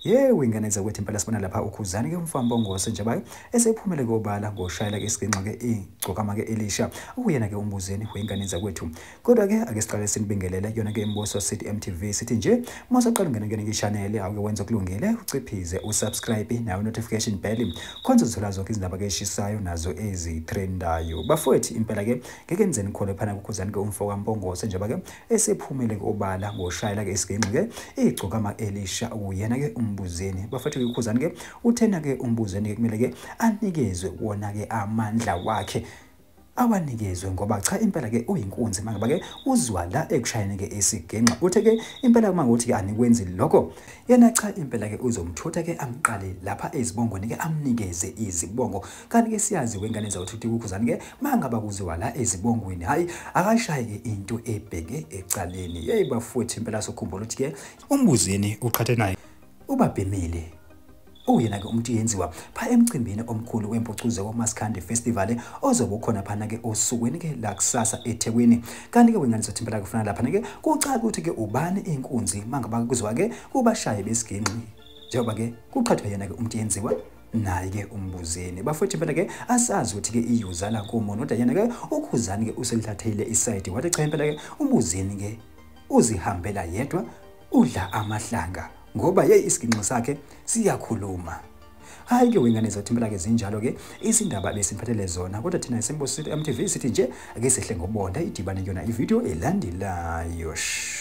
yewe ingane zakwethu impela sibona lapha ukhuzani-ke umfambongose nje bayo esephumele kobala ngoshayela-ke isiginxa-ke igcokama-ke elisha ukuyena-ke umbuzeni weyingane zakwethu kodwa-ke ake siqale sinibingelele yona-ke imbuso city mtv sithi nje uma usaqala ungena kuyona ngishanele awuke wenza okulungile uciphize usubscribe nayo notification bell khonza uzithola zonke izindaba-ke eshisayo nazo ezitrendayo bafowethu impela-ke ngeke nize nikholwe phana kukhuzani-ke umfo kampongose njengoba-ke esephumile-ke obala ngoshayela-ke isigenxi-ke igcokama elisha uyena-ke umbuzeni bafethu-ke ukhuzani-ke uthena-ke umbuzeni-ke kumele-ke anikezwe wona-ke amandla wakhe awanikezwe ngoba cha impela ke uyinkunzi mangaba ke uzwa la ekushayeni ke isigenxa uthe ke impela uma ngothi ke anikwenzi lokho yena cha impela ke uzomthutha ke amqale lapha ezibongweni ke amnikeze izibongo kanti ke siyazi wengane zawuthuthi kukhuzani ke mangaba kuziwa la ezibongweni hayi akashaye ke into ebheke ecaleni yeyi bafuthi impela sokhumbula ukuthi ke umbuzini uqhathe naye ubabhemile uyena-ke umuntu yenziwa pha emcimbini omkhulu wempucuze wamaskandi festival ozobe ukhona phana-ke osukwini-ke lakusasa ethekwini kanti-ke wengane zothi impela kufana laphana-ke kucaca ukuthi-ke ubani inkunzi mangaba kuzwa-ke kubashaye besigingqi njengoba-ke kuqhathwa yena-ke umuntu yenziwa naye-ke umbuzeni bafowethu impela-ke asazi ukuthi-ke iyuzala kumo noda yena-ke ukhuzani-ke uselithathile isayidi wathi cha impela-ke umbuzeni-ke uzihambela yedwa udla amahlanga ngoba yeyi isiginxo sakhe siyakhuluma hayi ke wengane zethu impela ke zinjalo ke izindaba besiphathele zona kodwa thina esimbosile MTV sithi nje ake sehle ngobonda idibane kuyona ivideo elandelayo shh